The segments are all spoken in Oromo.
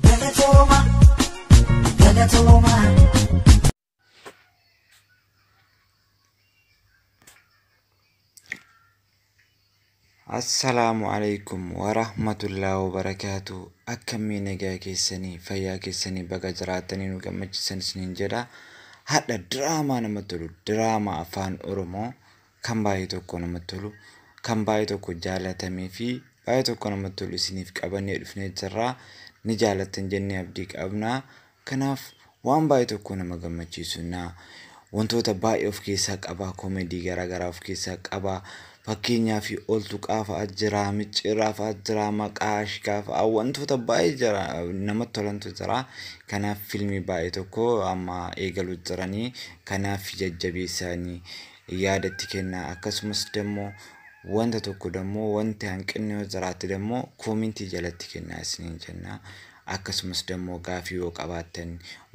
Galatooma, galatooma. Assalaamu alaikum warahmatullahi wabarakaatu akkamii nagaa keessanii fayyaa keessanii baga jiraatanii nu gammachiisan isiniin jedha hadha diraamaa namatti tolu diraamaa afaan oromoo kan baay'ee tokko namatti tolu kan baay'ee tokko jaalatamee fi baay'ee tokko namatti tolu isiniif qabannee dhufnee jirra ni jaalattan jennee abdii qabna kanaaf waan baay'ee tokko nama gammachiisu na wantoota baay'ee of keessaa qaba koomedii garaagaraa of keessaa qaba fakkeenyaa fi oltu qaafa'aa jira micciirraa fa'aa jira maqaa ashkaa fa'aa wantoota baay'ee jira namatti tolantu jira kanaaf filmii baay'ee tokko amma eegaluu jiranii kanaaf jajjabeessaanii yaada itti kennaa akkasumas dammoo wanta tokko dammoo wanti hanqinni yoo jiraatti dammoo koomintii jalatti kennaa isiniin jennaa akkasumas dammoo gaafii yoo qabaattan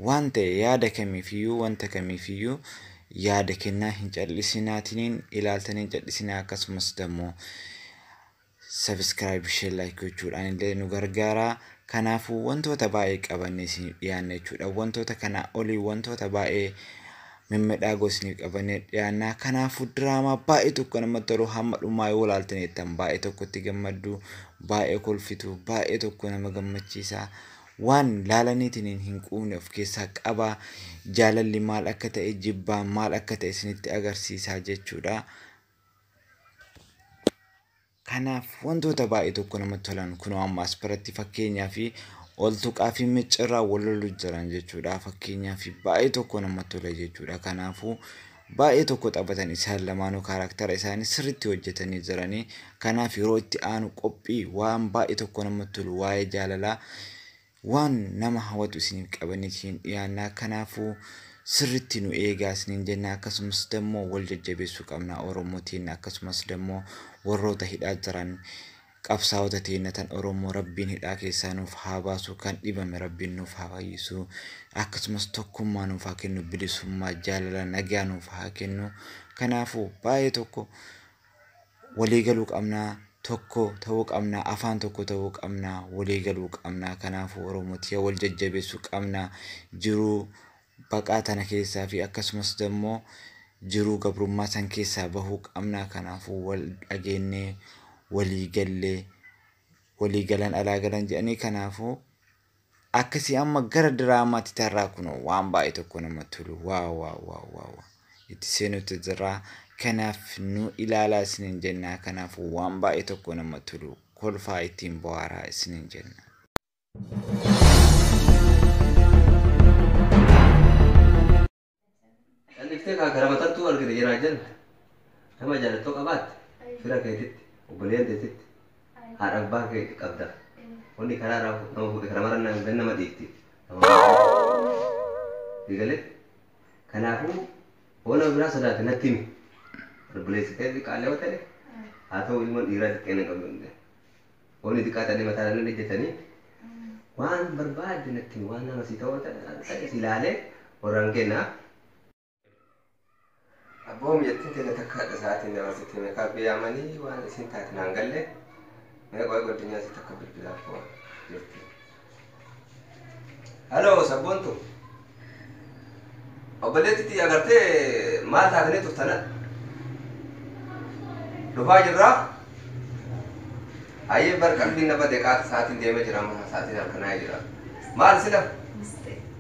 waan ta'e yaada kamiifiyyuu wanta kamiifiyyuu yaada kennaa hin cal'isinaatiniin ilaaltaniin cal'isinaa akkasumas dammoo Subscribe, Share, Like gochuudhaan illee nu gargaaraa. Kanaafuu wantoota baay'ee qabannee isiniif dhiyaanna jechuudha. Wantoota kanaa olii wantoota baay'ee mimmidhaagoo isiniif qabannee dhiyaanna. Kanaafuu diraamaa baay'ee tokko namatti tolu hamma dhumaa yoo ilaaltan jettan baay'ee tokkotti gammaddu, baay'ee kolfitu, baay'ee tokko nama gammachiisa. Waan laalaniitiin hin quufne of keessaa qaba. Jaalalli maal akka ta'e jibbaan maal akka ta'e isinitti agarsiisa jechuudha. Kanaaf wantoota baay'ee tokko namatti tolan kunoo amma as biratti fakkeenyaa fi ol tuqaa fi micciirraa wal lolu jiran jechuudha. Fakkeenyaa fi baay'ee tokko namatti tola jechuudha. Kanaafuu baay'ee tokko taphatan isaan lamaanuu kaaraaktara isaanii sirriitti hojjetanii jiranii. Kanaaf yeroo itti aanu qophii waan baay'ee tokko namatti tolu waa'ee jaalalaa Waan nama hawatu isiniif qabannee isiniif dhiyaannaa kanaafu sirritti nu eegaa isiniin jenna akkasumas dammoo wal jajjabeessuu qabnaa oromoo teenna akkasumas dammoo warroota hidhaa jiran qabsaawota teenna tan oromoo rabbiin hidhaa keessaa nuuf haa baasu kan dhibame rabbiin nuuf haa fayyisuu akkasumas tokkummaa nuuf haa kennu bilisummaa jaalala nagaa nuuf haa kennu kanaafu baayee tokko walii galuu qabnaa tokko ta'uu qabnaa afaan tokko ta'uu qabnaa walii galuu qabnaa kanaafuu oromoo tiya wal jajjabeessuu qabnaa jiruu baqaa tana keessaa fi akkasumas dammoo jiruu gabrummaa san keessaa bahuu qabnaa kanaafuu wal dhageennee walii gallee walii galan alaa galan jedhanii kanaafuu Akkasi amma gara diraamaatti tarraa kunoo waan baay'ee tokko nama tolu waa waa waa waa waa itti seenutti jirraa kanaaf nu ilaalaa isinin jennaa kanaaf waan baay'ee tokko nama tolu kolfaa ittiin bohaaraa isinin jenna. Calliftee kaa kara matattuu argite jiraa jala nama jaalattoo qabaatte fira keetitti obboleeyyan teetitti haadha abbaa kee qabda wanni karaa irraa fu- nama fuudhe kana mara na- gan nama dhiifti nama eegale kanaafuu hoo nama biraa sodaate natti himi obboleessi kee xiqqaallee yoo ta'e haa ta'u ilmoon dhiiraa xiqqeen hin qabu hin jedhe. Wanni xiqqaa tadhe mataa irra ejjatanii waan barbaadde natti himi waan nama si ta'oo ta'e si ilaalee warraan kennaa. Abboo mijattiin tiyya takka hadha sa'aatiin dabarsitee meekaappii yaamanii waan isiin taate naan galle mee qoy goddinyaa isii takka bilbilaaf jirti. Hello sabboontu obboleetti tiyya agartee maal taatanii turtana dhufaa jirraa hayyee bar qalbiin na bade qaata sa'aatiin deemee jira amma sa'aatiin halkanaa'ee jira maal sila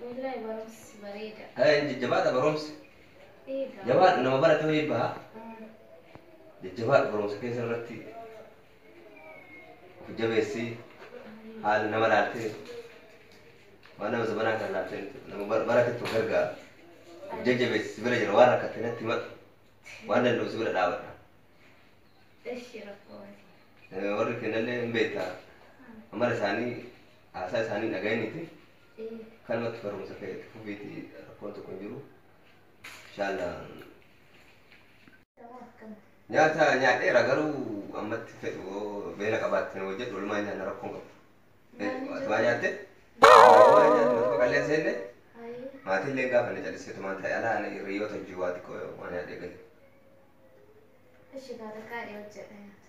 Wallaahi barumsi bareeda. Eh, hin jajjabaadha barumsi. Ee Jabaadhu gaariidha. nama barate wayii baha. Mm. Jajjabaadhu barumsa keessa irratti of jabeessi. Ayyee. Haala nama laaltee waan nama zabanaa kana laaltee miti. Nama bar- baratetti of gargaara. Of Ayyee. jajjabeessi si bira jira waan rakkatte natti himadhu. Waan danda'u si bira dhaabadha. Ishi rakkoo miti. Eh, Warri kennallee hin beektaa. Mm. Amala isaanii haasaa isaanii hin dhaga'iniiti. Kanumatti barumsa kee itti fufiiti rakkoon tokko hin jiru. Inshaallaa. Nyaata nyaadheera garuu ammatti fedhu yoo beela qabaatte nu hojjedhu walumaan nyaanna rakkoon qabu. Atumaa nyaatte? Atumaa nyaatte matumaa qalleen seenne? Maatiin illee hin gaafanne callisee tumaan taa'e alaa ani hiriyyoota hojii waa xiqqoo waan nyaadhee gahe. Ishi kaa takkaa dhiyoo jedha nyaata.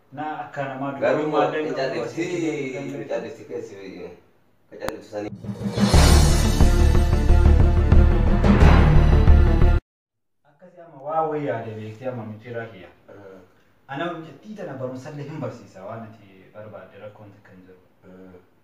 Naa akkaa namaa Garuu dubatuu maaddan hin qabduu asii achi deemuu hin callifti hin dandeettu. callifti keessi ka calliftu sanii. Akkasi amma waa wayii yaade beekti amma micciiraa kiyya. Ana mucattii tana barumsallee hin barsiisa waan ati barbaadde rakkoon takka hin jiru.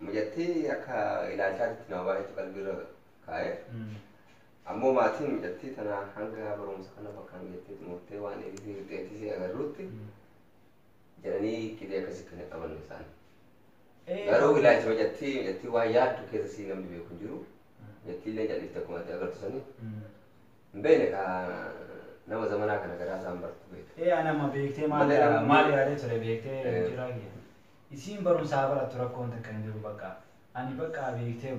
Mucattii akka ilaalchaatitti nama baay'eetu qalbiirra kaa'e. Ammoo maatiin mucattii tanaa hanga barumsa kana bakkaan geettee xumurtee waan eegisii fixxeetti si agarruutti jedhanii qidee akkasii kan hin amanne isaan. Garuu ilaalcha mucattii mucattii waan yaaddu keessa sii namni beeku hin jiru. Mucattii illee jal'ifte akkuma ati agartu sanii. Hin beekne ka nama zamanaa kana garaa isaan bartu beekte. Ee anama beektee maal Malee namni- maal yaada ture beektee Eh. jira kiyya. Isiin barumsa haa barattu rakkoon takka hin jiru baqqa ani baqqa beektee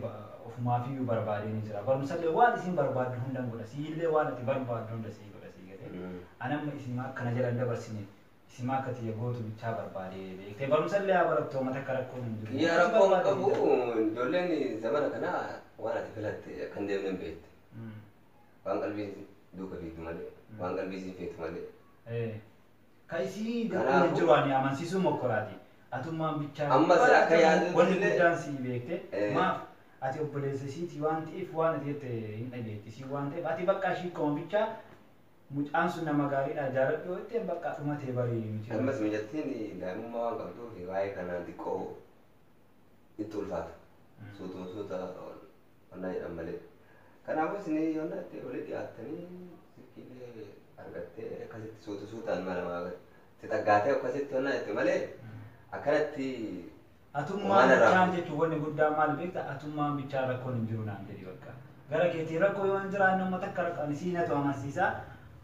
ofumaafiyyu barbaadeen jira barumsallee waan isiin barbaaddu hundan godha siillee waan ati barbaaddu hunda sii godha sii galee ani amma isiima akka na jala hin dabarsine isiima akka tiyya gootu bichaa barbaade beektee barumsallee haa barattu homa takka rakkoon hin jiru Kiyyaa waan ati rakkoon barbaadde qabu siidha. ijoolleen zamana kana waan ati filatte akka hin deemne hin beekti waan qalbiin duuka fiigdu malee waan qalbii isiin feetu malee Ee. Ka isii gad dhume hin jiru ani amansisuu mokkoraati atummaan bichaa yoo baratte moo wanni guddaan sii beekte maaf ati obboleessa isiiti waan ta'eef waan ati jette hin dhageetti isiin waan ta'eef ati baqqaa ishii koma bichaa mucaan sun nama gaariidha jaaladhu yoo jetteen baqqaa dhuma tee bari nuti bari. Ammas mucattiin daa'imummaa waan qabduuf waa'ee kanaan xiqqoo itti ulfaata suutuma suuta Wallaahi jedhan malee. Kanaafuu isin yoonnaatti olii dhiyaattanii silkiilee argattee akkasitti suuta suutaan mala maa itti xaggaatee akkasitti yoonnaa jette malee akkanatti Atummaan Waan irraa bichaan fuudhu. jechuun wanni guddaan maal beekta atummaan bichaan rakkoon hin jiru naan jedhi bakka. Gara keetiin rakkoo yoo hin jiraanne amma takka rakko ani sii natu amansiisaa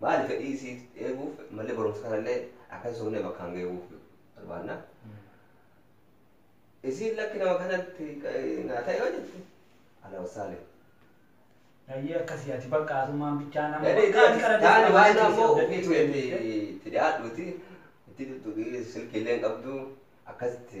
Maali fedhii isii eeguuf mallee barumsa kanallee akka hin sobnee bakkaan geeguuf barbaanna. Isiin lakki nama kanatti naa ta'e yoo jette ala wasaalee. Ayyee akkasii ati bakka asumaan bichaan amma Yaani bakka ani kana taani waan deemaa ammoo ofii dandeettii keeti dandeettii. itti dhiyaadhuuti itti tuttuqii silkiillee hin qabdu akkasitti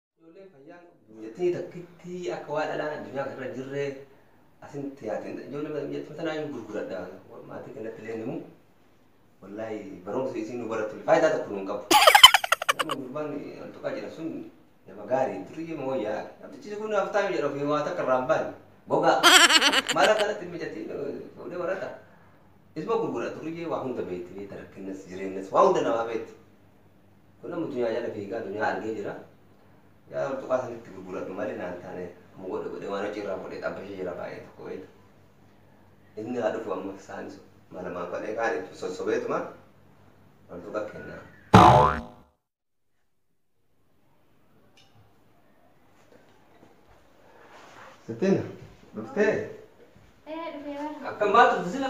Ijoolleen fayyaan qabdu biyyattii takkitti akka waan dhalaan addunyaa kana irra hin jirre asitti yaati. Ijoollee biyyattii tanaa hin gurguradha. Maatii kennatti illee himu. Wallaahi barumsi isiin nu barattu illee faayidaa tokko nu hin qabu. Nama gurbaan altuqaa jira sun nama gaarii duriyyee ma wayyaa. Namtichi kun haftaami jedha ofii waa takka irraa hin baane. Gogaa. Mala kanatti mijatiin fuudhee warata. Isma gurgura duriyyee waa hunda beekti beekta rakkinnas jireenyas waa hunda namaa beekti. Kun amma dunyaa jala fiigaa dunyaa argee jira. Yaa hortuqaa sanitti gurguradhu malee naan taane amma godhe godhe waan hojii irraa godhe xabbashee jira baay'ee tokko beektu. Inni haa dhufu amma isaanis malamaan godhee kaan itti sossobeetuma hortuqa kennaa. Sittiin dhuftee Ee dhufee bara. akkam baatu sila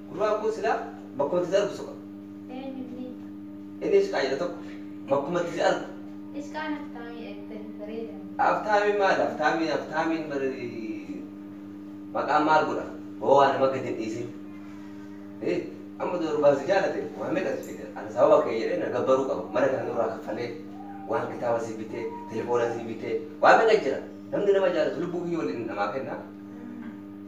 Gurbaan kun silaa bakkuma itti si argu soqa. Eenyu inni? Inni Ishqaa jedha tokko bakkuma itti si argu. Ishqaan Aftaamii Eebbirri bareedan. Aftaamiin maali Aftaamiin Aftaamiin bari maqaan maal godha hoo waa nama gad hin dhiisin hii amma odoo gurbaan si jaalate waa meeqa si fida ana sababa kee jedhee na gabbaruu qaba mana kana nurraa kaffalee waan kitaaba si bitee telefoona si bitee waa meeqa jira namni nama jaalatu lubbuu kiyya waliin namaa kenna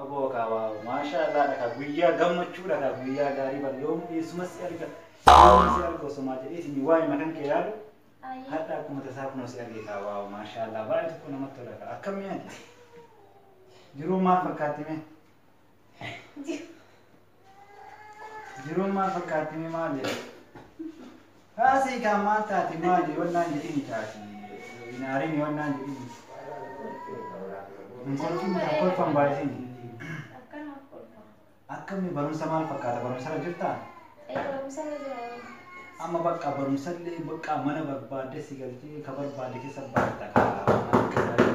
Aboo kaa waaww maashaa allaah dha kaa guyyaa gammachuu dha kaa guyyaa gaarii bar yoomuu eessuma si arga yoomuu si arga osomaa jedheetini waayima kan kee yaadu hadha akkuma tasaa kunoo si arge kaa waaww maashaa allaah baay'ee tokko namatti tola kaa akkam mee ati jiruun maal fakkaatti mee Jiruun maal fakkaatti mee maal jedha? Haasii kaan maal taati maali yoon naan jedhini kaati. Hin aarini yoon naan jedhini. Hin kolfin kan kolfan baay'isini. Akkanuma kolfa. Akkamii barumsa maal fakkaata barumsarra jirtaa? Ee barumsarra jira. Amma bakka barumsallee bakka mana barbaadde si galchee ka barbaadde keessa baatta ka waan akka gaarii.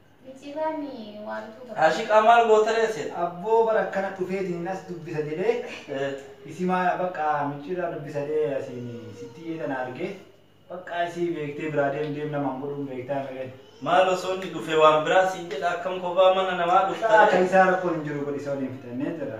Ashiqaa maal gootaree sin. Abboo bar akkana dhufeetinin as dubbisa jedhee isimaa baqqaa micciirraa dubbisa jedhee asiin sitti iyyee tana argee baqqaa isii beektee biraa deem deem namaan godhuun beektaa miree. Maal osoo inni dhufee waan biraa siin jedha akkam kophaa mana namaa dhuftaree. Akka isaa rakkoon hin jiru godhi isa waliin fixannee jirra.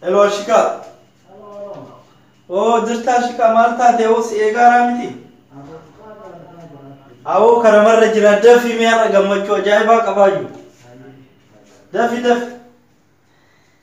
Hello Ashika. Oo jirta Ashika maal taate oo si eegaaraa miti. Awoo karamarra jira dafi mee har'a gammachuu ajaa'ibaa qabaa jiru. Dafi dafi.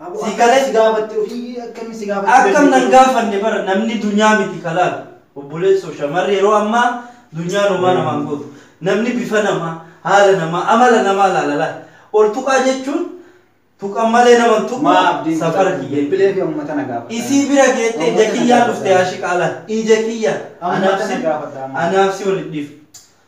Aboo Si akkam gale? si gaafatti ofii akkam si gaafatti Akkam nan dandeettii? gaafanne bara namni dunyaa miti ka laalu. Obboleessoo shamarri yeroo ammaa dunyaan homaa namaan gootu. Namni bifa namaa, haala namaa, amala namaa laala laal. Ol tuqaa jechuun tuqan malee nama hin tuqu Maa abdiin safara kutadhu kiyya. bilbilee fi ummata na gaafadha. Isii bira geette ija Ummata na kiyyaan dhufte gaafadha. aashiqaa laal. Ija kiyyaan. Ummata Anaaf na si gaafadha amma. anaaf si wal hin dhiifnu.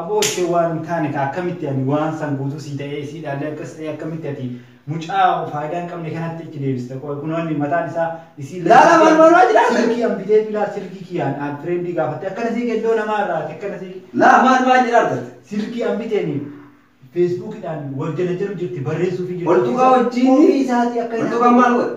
Aboo ishee waan hin taane kaa akkamitti ani waan san guutuu sii ta'ee isiidhaallee akkas ta'ee akkamitti ati mucaa faayidaa hin qabne kanatti itti deebista qoy kunoo inni mataan isaa isii Laala lakkii maal kiyaan maal maa jiraa sirri sirri. kiyaan biteefi laal sirri kiyaan aan fireendii gaafatte akkana sii qeddoo namaa irraa ati akkana sii Laa maal maa jiraa argatte. sirri kiyaan biteeni feesbuukidhaan wal janajaru jirti barreessuufi jirti Oltuqaa ofii isaa wajjiinni ofii isaatii akka hin oltuqaan haasofne. maal godhe.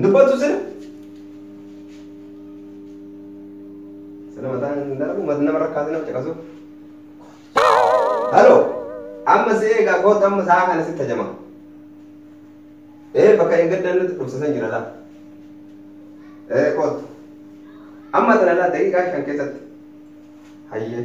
Dubbatu sir. Sana mataan hin dalagu mata nama rakkaate nama caqasuuf. Halo. Amma si eegaa kootu amma sa'a kana si tajama. Ee bakka eeggaddan nuti dhufsisan jira laa. Ee kootu. Amma tana laa daqiiqaa shan keessatti. Hayyee.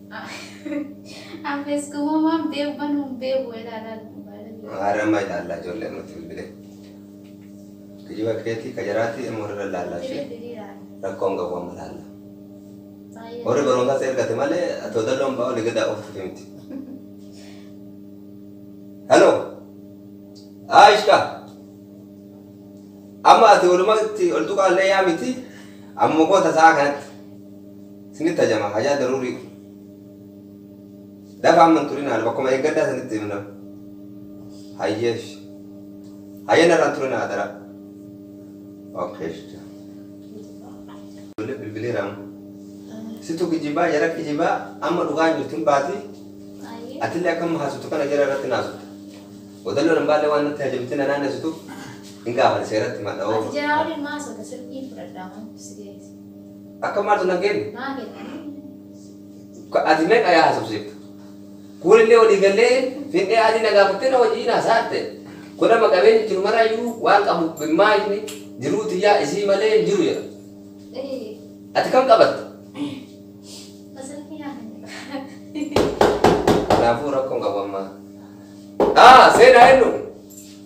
An feskuma waan beeku banu hin beeku ilaala baalaga. Haara amma ilaalla ijoollee ammatti bilbile. Kijiba keeti ka jaraati amma warra ilaalla Itti ishee. bilbili ilaala. Rakkoo hin qabu amma ilaalla. Baay'ee. Warri barumsaa si ergate malee atoo dalloon ba'aa olii gadaa ooftuti miti. Hello. Aishka. Amma ati olumatti ol tuqaa illee yaa miti. Amma koo tasaa kanatti. Isinitti hajama hajaa daruurii dhufa. Dafa amma hin turinaa bakkuma eeggadhaa isinitti himna. Hayyee ishi. Hayyee narraa hin turinaa adaraa. Okay ishi. Ijoollee bilbileera amma. Situ kijibaa jara kijibaa amma dhugaan jirtu hin baati. Atillee akka amma haasoftu kana jara irratti naasofta. Odalloon hin baallee waan natti hajamte na naannessituuf hin gaafadha seeratti madha Ati jiraa waliin maasota sirbiin fudhadhaa maaf si geesse. Akka maaltu nan kenne? Maa kennanii? Ka- Ati meeqa yaa hasofsiiftu? Kuulillee walii gallee findhee adii na gaafattee na wajjin haasa'atte. Godhama qabeenyi jiru maraayyuu waan qabu gimmaashni jiruu tiyyaa isii malee hin jiru jedha. Ee, Ati kam qabatta? masarafii naa kenna. Kanaafuu rakkoon qabu amma. Haa seenaa eenyu?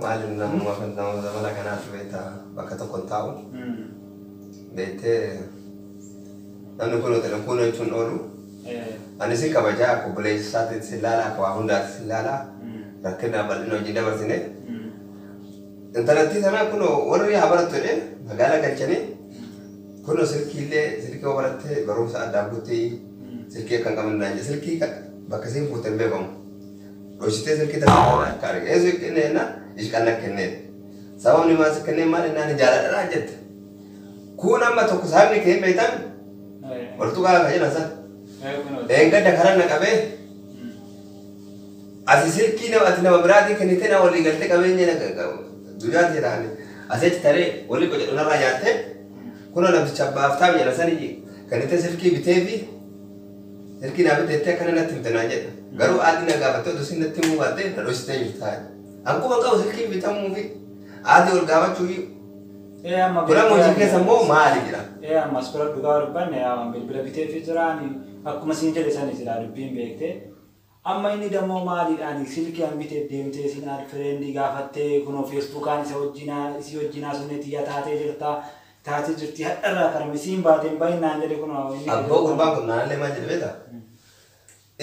Maali nama nama zamana kanaatti beekta bakka tokko hin taa'u. Beektee namni kun hoteela kun jechuun oolu. Ani sin kabajaa akka obboleessa isaatti sin laala akka waa hundaatti sin laala. Rakkina bal'ina wajjin dabarsine. Intalattii sanaa kun warri haa barattu jedhee magaalaa galchanii kun silkiillee silkii yoo baratte barumsa addaa guutti silkii akka hin qabne naan jedhe silkii bakka siin fuute hin beekamu. Dhoysitee silkii tana irraa na akka arge. Eesuu kenne jennaan ishi kan na kenneef. Sababni maan si kennee maal jennaan ani jaaladha naan jette. Kuun amma tokko sababni kee hin beeytami? Wal tuqaa ka jedhan san. Dheengadda karan na qabee asi silkii nama ati nama biraatii kennitee na walii galtee qabeenya na dunyaan tee taane asii achi taree walii qocadhu narraa nyaattee kunoo namticha abbaaf taa'u jedhan sanii kennitee silkii bitee fi Ergi naa bite jettee akkana natti himte naan jedha. Garuu aaddi na gaafattee odoo isiin natti himuu baattee na dhoysitee jirta. An quba hin qabu silkiin bitamuu fi aaddi wal gaafachuu fi Ee amma Kun amma hojii keessa immoo maali jira? Ee amma as bira dhugaa dubbanne yaa waan bilbila biteefi jiraani akkuma siin jedhe sani silaa dubbiin beektee Amma inni dammoo maaliidhaani silkian biteef deemtee isin add friend gaafattee kunoo feesbuukaan isa wajjina isii wajjin haasofnee tiyya taatee jirta taatee jirti hadharraa kana misii hin baate hin bahin naan jedhe kunoo inni Abboo gadoo gurbaan kun naanallee maal jedhe beektaa?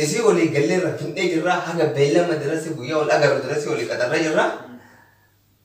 Isii walii galleerra fin'ee jirraa haga beellama dirassi guyyaa wal agarru dirassi walii qaxarree jirraa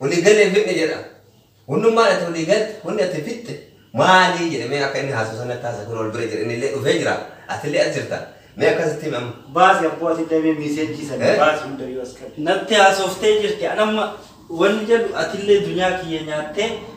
Walii galle hin fixne jedha. Hunnummaan ati walii galte, hunni ati fixxe maali jedhe mee akka inni haasa'u san natti haasa'e kunoo ol bira jira inni illee dhufee jira ati illee as jirta mee akkas itti himi amma. Baasi abboo ati illee mee miseejjii san baasi hundayyuu as qabi. Natti haasoftee jirti an amma wanni jedhu ati illee dunyaa kiyya nyaattee.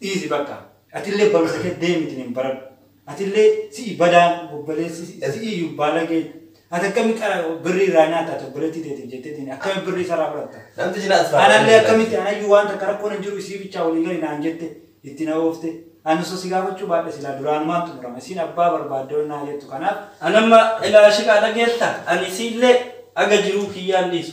Dhiisi bakka. Atillee barumsa kee deemitin baradhu. Atillee si'i badaan obbaleessi si'iyyuu baalagee dha. Ati akkami qara birrii irraa nyaatta ati obboleettii teetiif jetteetiin akkami birrii isarraa fudhatta? Namtichi na asfaaraa Anallee dheeraa akkamitti jira. anayyuu waan takka rakkoon hin jiru isii bichaa walii gali naan jette itti na oofte. Ani osoo si gaafachuu baadhe silaa duraanumaan xumurama. Isiin abbaa barbaadde ol naa jettu kanaaf. An amma ilaa shiqaa dhageetta ani isiillee haga jiruu kiyyaan dhiisu.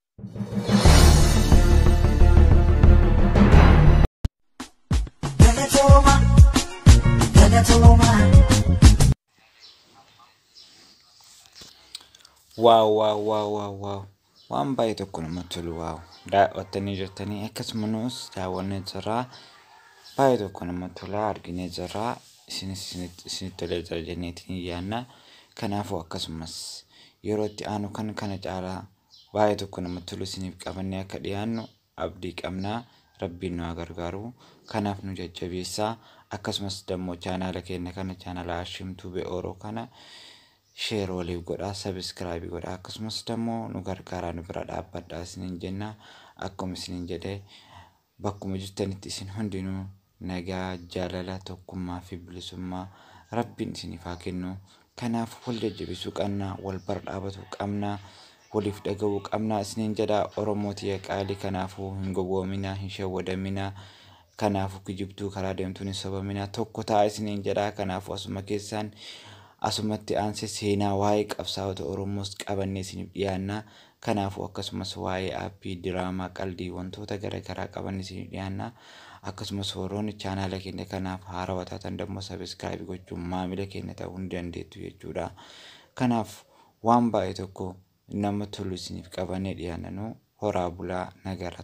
Galatooma, galatooma. Waaw waaw waaw waaw waaw waan baay'ee tokko namatti tolu waaw daawwattanii jirtanii akkasumas daawwannee jirraa baay'ee tokko namatti tola arginee jirraa isinis isinitti isinitti tolee jira jenneetiin yaanna kanaafuu akkasumas yeroo itti aanu kan kana caalaa baay'ee tokko namatti tolu isiniif qabannee akka dhiyaannu abdii qabna rabbiin nu haa gargaaru kanaaf nu jajjabeessaa akkasumas dammoo chaanaala keenya kana chaanaala ashimtuu be'ooroo kana sheer waliif godhaa sabiskiraabii godhaa akkasumas dammoo nu gargaaraa nu bira dhaabbadhaa isiniin jenna akkuma isiniin jedhe Bakkuma jirtanitti isin hundinuu nagaa, jaalala, tokkummaa fi bilisummaa Rabbiin isiniif haa kennu. Kanaaf wal jajjabesuu qanna, wal bar dhaabatu qabna, waliif dhaga'uu qabna isiniin jedha Oromoo tiya qaali kanaafuu hin gowwoomina, hin shawwadamina. Kanaafuu kijibtuu karaa deemtuun hin sobamina tokko ta'a isiniin jedha kanaafuu asuma keessaan asumatti aanse seenaa waa'ee qabsaa'ota Oromoos qabannee isiniif dhiyaanna. Kanaafuu akkasumas waa'ee aappii, diraamaa, qaldii, wantoota gara garaa qabanne isiniif dhiyaanna. Akkasumas warroonni chaanaala keenya kanaaf haarawa taatan dammoo subscribe gochuun maamila keenya ta'uu ni dandeettu jechuudha. Kanaaf waan baay'ee tokko nama tolu isiniif qabannee dhiyaanna nu horaa bulaa nagaara